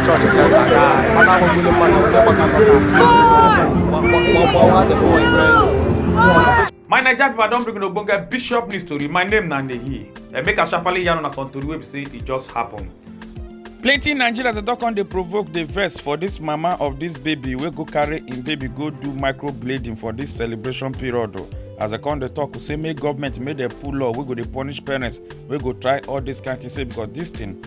chọọchị senta ka a na-agbagburu mmadụ onye gbakọgbawa the boy my naija pipo i don bring ogbonge bishop news tori my name na nehi emeka sharparly yarn una some tori wey be say e just happen. plenty nigerians dey don come dey provoke dey vex for dis mama of dis baby wey go carry im baby go do microblading for dis celebration period o as dem come dey tok say make government make dem pull law wey go dey punish parents wey go try all dis kain tin say because dis tin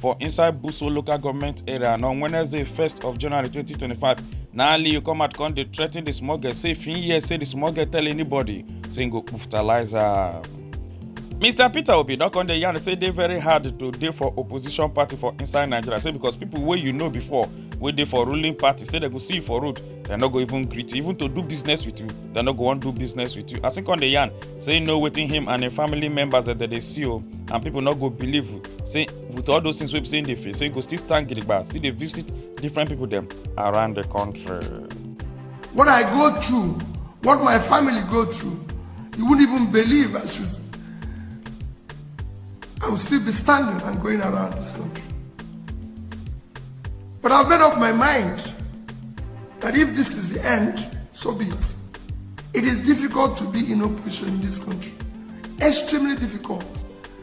for inside buso local goment area and on wednesday 1st of january 2025 na aliyu come out come dey threa ten di small girl say if im hear say di small girl tell anybody say im go puftalize her. mr peter obi don come dey yarn say e dey very hard to dey for opposition party for inside nigeria say because pipo wey you know before wey dey for ruling party say dem go see you for road dem no go even greet you even to do business with you dem no go wan do business with you as im come dey yarn say e know wetin him and im family members dem dey see o and pipo no go believe say with all those things wey be say dey face so you go still stand gidigba still dey visit different people dem around the country. what i go through what my family go through you wouldn't even believe i should i will still be standing and going around this country but i've made up my mind that if this is the end so be it it is difficult to be in opposition in this country extremely difficult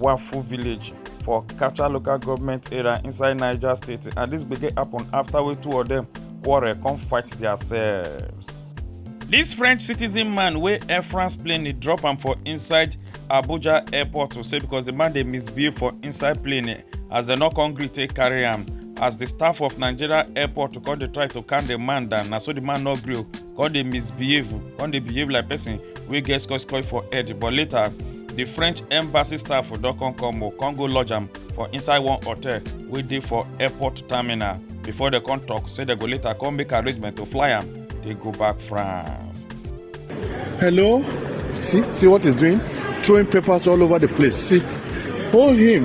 Wafu village for Kacha local government area inside Niger state and this begin happen after we two of them quarrel come fight themselves. This French citizen man wey Air France plane dey drop am for inside Abuja airport to say because the man dey misbehave for inside plane eh, as dem no come gree take carry am as the staff of Nigeria airport to come dey try to calm the man down na so the man no gree o come dey misbehave come dey behave like person wey get scotch coil for head but later di french embassy staff don come come o come go lodge am for inside one hotel wey dey for airport terminal before dem come tok say dem go later come make arrangement to fly am dey go back france. hello see see what he's doing throwing papers all over the place see hold him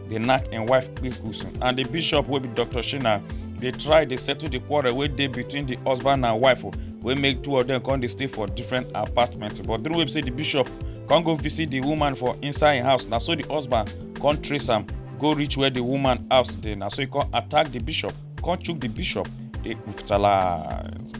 dey knack im wife kpikusu and di bishop wey be dr shina dey try dey settle di quarrel wey dey between di husband and wife oh, wey make two of dem come dey stay for different apartments but during wey be say di bishop come go visit di woman for inside im house na so di husband come trace am go reach where di woman house dey na so e come attack di bishop come chook di bishop dey with talent.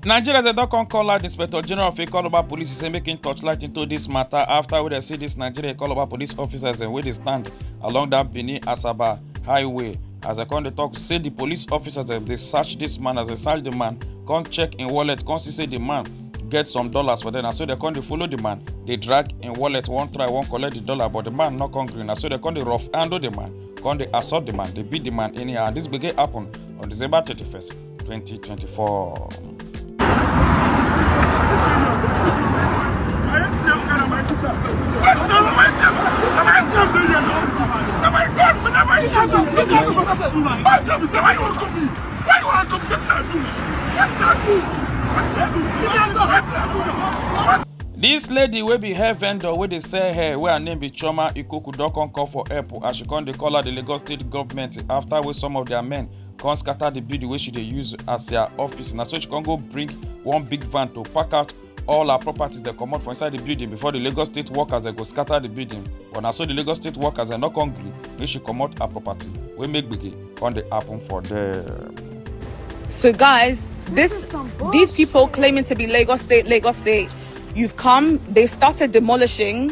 nigeria dem don come call out di inspector general of ikoloba police say make im torchlight into dis matter after wey dem see dis nigeria ikoloba police officers dem wey dey stand along dat benin asaba highway as dem come dey tok say di police officers dem dey search dis man as dem search di man come check im wallet come see say di man get some dollars for dem na so dem come dey follow di man dey drag im wallet wan try wan collect di dollar but di man no come gree na so dem come dey rough handle di man come dey assault di man dey beat di man anyhow and dis gbege happen on december 31st 2024. This lady wey be hair vendor wey dey sell hair wey her name be chioma ikoku don come call for help as she come dey call out di lagos state government after wey some of their men come scatter the building wey she dey use as their office na so she come go bring one big van to pack out all her properties dem comot for inside the building before the lagos state workers dem go scatter the building but na so the lagos state workers dem no come gree make she comot her property wey make gbege come dey happen for there. So guys, this these people claiming to be Lagos State, Lagos State, you've come. They started demolishing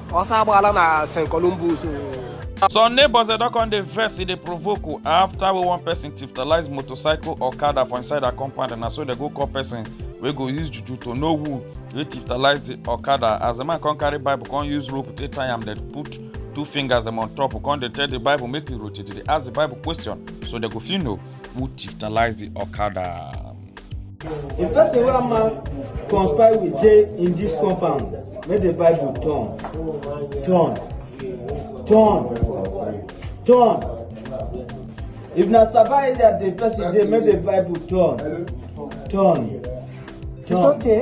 ọsọ agbaala na st columbus some neighbors dem don come dey vex e dey provoke o after wey one person tiftalize motorcycle okada for inside her compound na so dem go call person wey go use juju to know who wey tiftalize the okada as the man come carry bible come use rope take tie am dem put two fingers dem on top come dey tell the bible make e rotate dey ask the bible question so dem go fit know who tiftalize the okada. If person wey am man conspire with dey in this compound, make the Bible turn, turn, turn, turn. If na Saba area the person dey, make the Bible turn, turn, It's turn. okay.